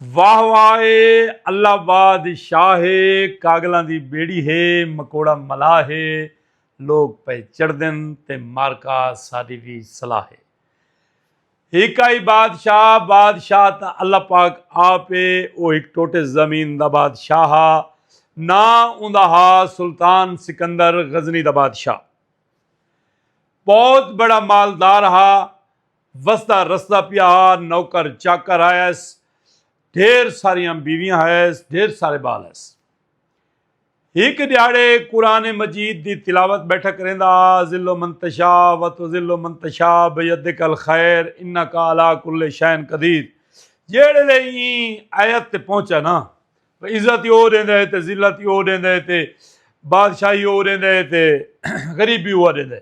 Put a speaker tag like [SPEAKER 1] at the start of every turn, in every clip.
[SPEAKER 1] واہ واہ اے اللہ باد شاہ اے کاگلاں دی بیڑی ہے مکوڑا ملاح ہے لوگ پئے چڑھدن تے مارکا ساڈی وی صلاح ہے ہک آئی بادشاہ بادشاہ تا اللہ پاک آپ اے او ہک ٹوٹے زمین دا بادشاہ ہا نا اوندا ہا سلطان سکندر غزنی دا بادشاہ بہت بڑا مالدار ہا وسدا رسدا پیا ہا نوکر چاکر ہائس ڈھیر ساریاں بیویاں ہائس ڈھیر سارے بال ہائس ہک دیہڑے قرآن مجید دی تلاوت بیٹھا کریندا ہا ذل و منتشا و تو ذل و منتشا بیدک الخیر انک علی کل شین قدیر جیڑے لے این آیت تے پہنچا نا عزت او دیندا ہے تے ذلت او دیندا ہے تے بادشاہی او دیندا ہے تے غریبی او دیندا ہے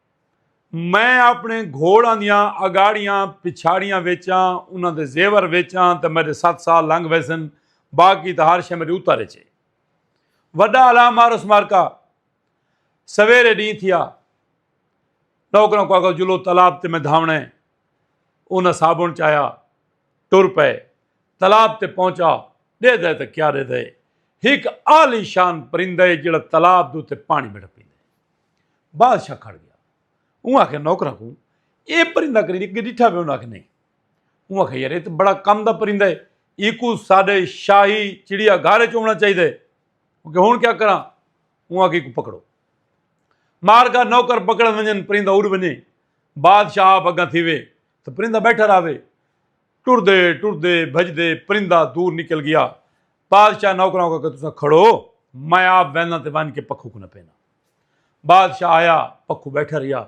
[SPEAKER 1] میں اپنے گھوڑاں دیاں اگاڑیاں پچھاڑیاں ویچاں انہاں دے زیور ویچاں تے میرے ست سال لنگ ویسن باقی تے ہر شے میرے اتر اچے وڈا الا مارس مارکا سویرے ڈی تھیا نوکروں کو اگل جلو تالاب تے میں دھاونے انہاں صابن چایا ٹر پے تالاب تے پہنچا دے دے تے کیا دے دے ایک عالی شان پرندہ ہے جڑا تالاب دو تے پانی بڑھ پی بادشاہ کھڑ گیا اوں آکھے نوکراں کو اے پرندہ کری دی کہ ڈٹھا پہ انہاں کہ نہیں اوں آکھے یار اے تے بڑا کم دا پرندہ ہے ایکو ساڈے شاہی چڑیا گھر وچ ہونا چاہیے دے کہ ہن کیا کراں اوں آکھے کو پکڑو مار کا نوکر پکڑ ونجن پرندہ اڑ ونجے بادشاہ آپ اگاں تھی وے تو پرندہ بیٹھا رہے ٹر دے ٹر دے بھج دے پرندہ دور نکل گیا بادشاہ نوکراں کو کہ تساں کھڑو میں آپ وینا تے ون کے پکھو کو نہ پینا بادشاہ آیا پکھو بیٹھا رہیا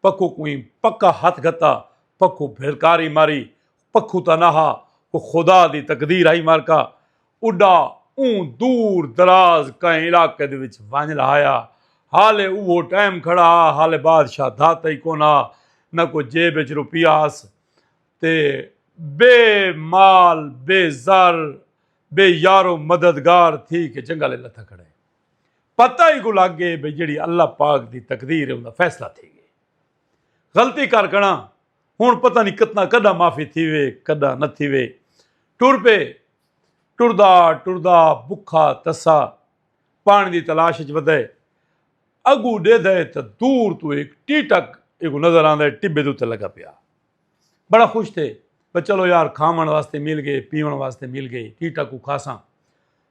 [SPEAKER 1] پکھو کوئی پکا ہاتھ گھتا پکھو بھلکاری ماری پکھو تا نہ وہ خدا دی تقدیر آئی مار کا اڈا اون دور دراز کہیں علاقے دے وچ ونج لہایا حالے اوہو ٹائم کھڑا حالے بادشاہ دھاتا ہی کونا نہ کوئی جیب وچ روپیہ آس تے بے مال بے زر بے یارو مددگار تھی کہ جنگل لتھا کھڑے پتہ ہی کو لگ گئے بھئی جیڑی اللہ پاک دی تقدیر ہے اوندا فیصلہ تھی گئے غلطی کر گنا ہن پتہ نہیں کتنا کڈا معافی تھی وے کڈا نہ تھی وے ٹر پے ٹردا ٹردا بکھا تسا پانی دی تلاش وچ ودے اگو ڈے دے تے دور تو ایک ٹی ٹک ایک نظر آندا ہے ٹبے دے تے لگا پیا بڑا خوش تھے بھئی چلو یار کھاون واسطے مل گئے پیون واسطے مل گئے ٹی ٹک کو کھاساں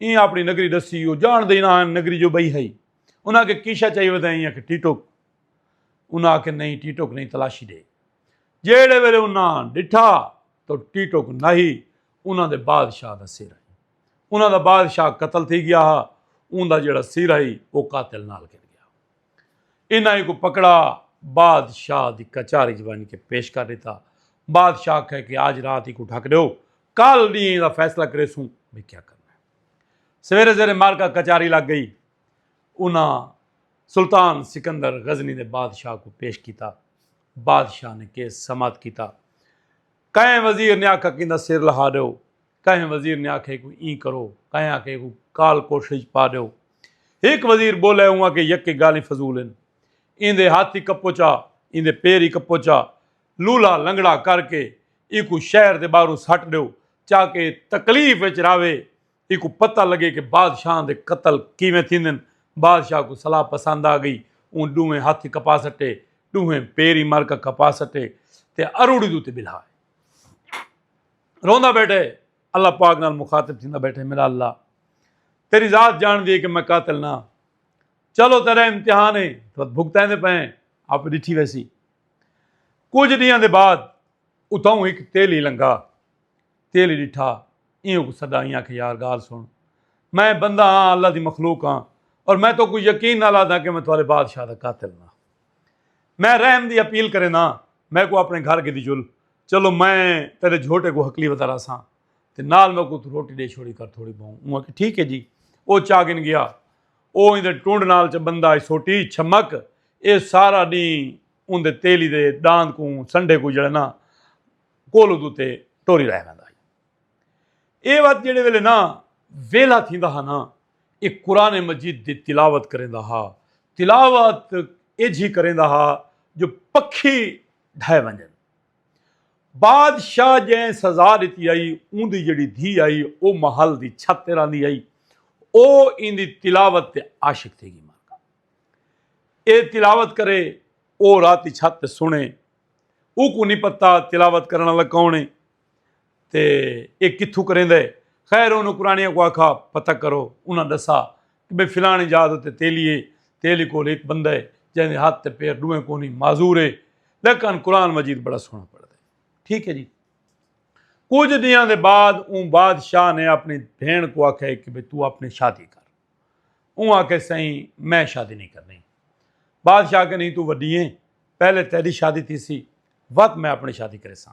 [SPEAKER 1] ایں اپنی نگری ڈسی وہ جان دے نہ نگری جو بئی ہئی انہاں کے کیشا چاہیے بتا ایں کہ ٹیٹوک انہاں کے نہیں ٹیٹوک نہیں تلاشی دے جیڑے ویلے انہاں ڈٹھا تو ٹیٹوک نہیں انہاں دے بادشاہ دا سر ہے انہاں دا بادشاہ قتل تھی گیا ہا اون دا جیڑا سر ہے وہ قاتل نال گر گیا انہاں کو پکڑا بادشاہ دی کچاری جوانی کے پیش کر دیتا بادشاہ کہے کہ آج رات ہی کو ڈھک دیو کل ڈینہ دا فیصلہ کریسوں بھئی کیا کرنا ہے سویرے زیر مارکا کچاری لگ گئی انہاں سلطان سکندر غزنی دے بادشاہ کو پیش کیتا بادشاہ نے کیس سماعت کیتا کہیں وزیر نے آکھا کیندا سر لہا دیو کہیں وزیر نے آکھے کو این کرو کہیں آکھے کو کال کوٹھڑی چ پا دیو ایک وزیر بولے ہوا کہ یک گالی فضول ہیں ایندے ہاتھ ہی کپوچا ایندے پیر ہی کپوچا لولا لنگڑا کر کے ایکوں شہر دے باہروں سٹ ڈیو چا کے ایہ تکلیف وچ راہوے ایکوں پتہ لگے کہ بادشاہاں دے قتل کیویں تھیندن بادشاہ کوں صلاح پسند آ گئی اوں ڈوہیں ہتھ ای کپا سٹے ڈوہیں پیر ای مر کے کپا سٹے تے اروڑی دے اتے بلہا تے روندا بیٹھے اللہ پاک نال مخاطب تھیندا بیٹھے میرا اللہ تیری ذات جان دی ہے کہ میں قاتل نہ چلو تیرا امتحان ہے تو بھگتیں دے پئے آپ ڈٹھی ویسی کجھ ڈینہاں دے بعد اتھاؤں ہک تیلی لنگھا۔ تیلی ڈٹھا ایں اکوں سڈا ایں آکھے یار گال سن میں بندہ ہاں اللہ دی مخلوق ہاں اور میں تو کوئی یقین نال آدھاں کہ میں تہاڈے بادشاہ دا قاتل نہ میں رحم دی اپیل کرینداں ہاں میں کو اپنے گھر گھدی چل چلو میں تیرے جھوٹے کو ہکلی ودا راساں تے نال میں کو روٹی ڈے چھوڑی کر تھوڑی بہوں اوں آکھے ٹھیک ہے جی او چاگن گیا او ایندے ٹنڈ نال چ بندہ ای سوٹی چھمک اے سارا ڈینہہ اوندے تیلی دے ڈاند کوں سنڈھے کوں جڑے نا کولو دو تے ٹوری رہ ویندا ہئی۔ اے وت جیڑھے ویلے نا ویلا تھیندا ہا نا اے قرآن مجید دی تلاوت کریندا ہا۔ تلاوت ایجھی کریندا ہا جو پکھی ڈھے ونجن۔ بادشاہ جئیں سزا ݙتی ہئی اوندی جیڑھی دھی ہئی او محل دی چھت تے رہندی ہئی او ایندی تلاوت تے عاشق تھی گی مالکا اے تلاوت کرے او راتی چھت تے سنے اوکوں نی پتہ تلاوت کرن والا کون ہے تے ایہ کتھوں کریندا ہے؟ خیر انہاں قرانیاں کوں آکھا پتہ کرو۔ انہاں ڈسا کہ بھئی فلاݨی جاہ دے اتے تیلی ہے، تیلی کول ہک بندہ ہے جیندے ہتھ تے پیر ڈوہیں کونی، معذور ہے لیکن قرآن مجید بڑا سوہݨا پڑھدا ہے۔ ٹھیک ہے جی۔ کجھ ݙینہاں دے بعد اوں بادشاہ نے اپݨی بھیݨ کوں آکھیا کہ بھئی توں اپݨی شادی کر۔ اوں آکھیا سئیں میں شادی نئیں کرݨی۔ بادشاہ آکھیا نہیں توں وݙی ہیں پہلے تیݙی شادی تھیسی وت میں اپݨی شادی کریساں۔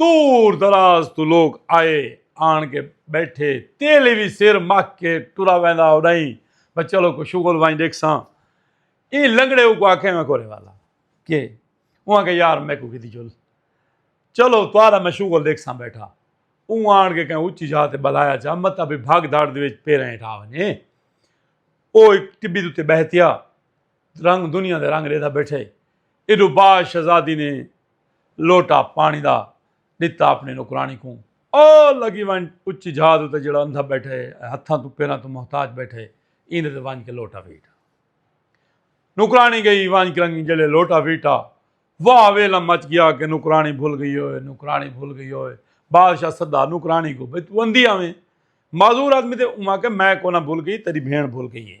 [SPEAKER 1] دور دراز توں لوک آئے آن کے بیٹھے تیلی وی سر مک کے ٹرا ویندا اڈائی بس چلو کو شغل وائیں ڈیکھساں ایں لنگڑے کو آکھے میں کورے والا کہ اواں کے یار میں کو کیتی جل چلو توارا میں شغل ڈیکھساں بیٹھا اوں آن کے کہیں اچھی جا تے بلایا جا مت ابھی بھاگ دھاڑ دے وچ پیرے ہیں ٹھا ونجے او ایک ٹبی دے تے بہتیا رنگ دنیا دے رنگ ریدا بیٹھے ایڈو با شہزادی نے لوٹا پاݨی دا ݙتا اپݨی نوکراݨی کوں۔ او لڳی ونڄ اچی جھاز اتے جیڑھا اندھا ٻیٹھے اے ائے ہتھاں توں پیراں توں محتاج ٻیٹھے ایندے تے ونڄ کے لوٹا ویٹھا۔ نوکراݨی ڳئی ونڄ کرنگی جیڑھے لوٹا ویٹھا۔ واہ ویلم مچ ڳیا کہ نوکراݨی بھل ڳئی ہووے نوکراݨی بھل ڳئی ہووے بادشاہ سدا نوکراݨی کوں بھئی توں اندھی آویں معذور آدمی تے اوں آکھے میں کونا بھل ڳئی تیݙی بھیݨ بھل ڳئی اے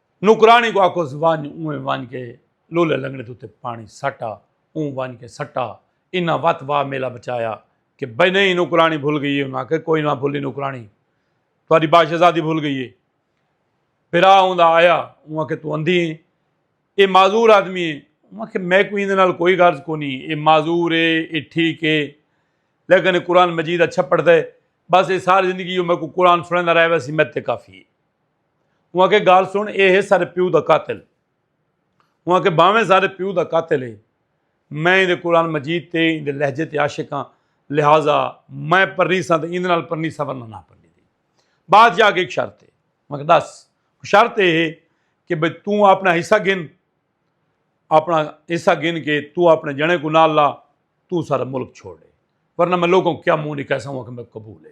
[SPEAKER 1] نوکرانی کو آکھوس ونج اونویں ونج کے لولے لنگڑے دے اتے پانی سٹ آ اوں ونج کے سٹا انہاں وت وا میلا بچایا کہ بھئی نہیں نوکرانی بھل گئی ہے انہاں آکھے کوئی نہ بھلی نوکرانی تہاڈی باش آزادی بھل گئی ہے پھرا اوندا آیا اوں آکھے تو اندھی ہیں اے معذور آدمی ہے اوں آکھے میں کوئی اندے نال کوئی غرض کو نہیں اے معذور ہے اے ٹھیک ہے لیکن قرآن مجید اچھا پڑھتا ہے بس اے ساری زندگی میں کو قرآن سنن دا رہے ویسی میں تے کافی ہے انہاں کے گال سن اے ہے سارے پیو دا قاتل انہاں کے باویں سارے پیو دا قاتل ہے میں دے قرآن مجید تے دے لہجے تے عاشق ہاں لہذا میں پرنی سا تے ایندے نال پرنی سا ورنہ نہ پرنی دی بادشاہ کے ایک شرط ہے میں دس شرط اے ہے کہ بھئی تو اپنا حصہ گن اپنا حصہ گن کے تو اپنے جنے کو نال لا تو سارا ملک چھوڑ دے ورنہ میں لوگوں کیا منہ نہیں کہہ سکوں کہ میں قبول ہے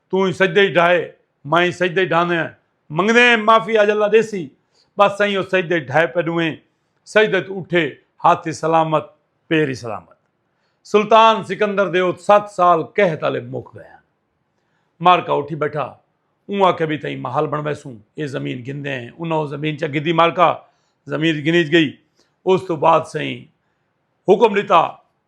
[SPEAKER 1] توں ہی سجدے ای ڈھائے میں ہی سجدے ای ڈھاندے ہیں منگدے ہیں معافی اج اللہ ڈیسی بس سائیں او سجدے ای ڈھائے پہ ڈویں سجدے تو اٹھے ہاتھ ہی سلامت پیر ہی سلامت سلطان سکندر دے او سات سال قحط والے مک گئے ہیں مارکا اٹھی بیٹھا اوں آکھے بھی تئیں محل بن ویسوں اے زمین گھندے ہیں انہاں او زمین چا گھدی مارکا زمین گھنیج گئی اس تو بعد سائیں حکم ڈتا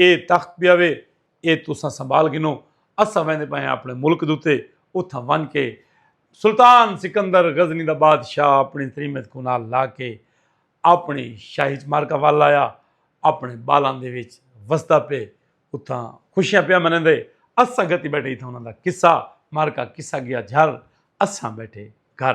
[SPEAKER 1] اے تخت پیا وے اے تساں سنبھال گھنو اساں ویندے پئے ہاں اپݨے ملک دے اتے اتھاں ونڄ کے سلطان سکندر غزنی دا بادشاہ اپݨی تریمت کوں نال لا کے اپݨی شاہی اچ معرکہ ول آیا اپݨے ٻالاں دے وچ وسدا پئے اتھاں خوشیاں پیا منیندے اس سنگت ہی ٻیٹھے اتھاں انہاں دا قصہ معرکہ قصہ گیا جھر اساں ٻیٹھے گھر۔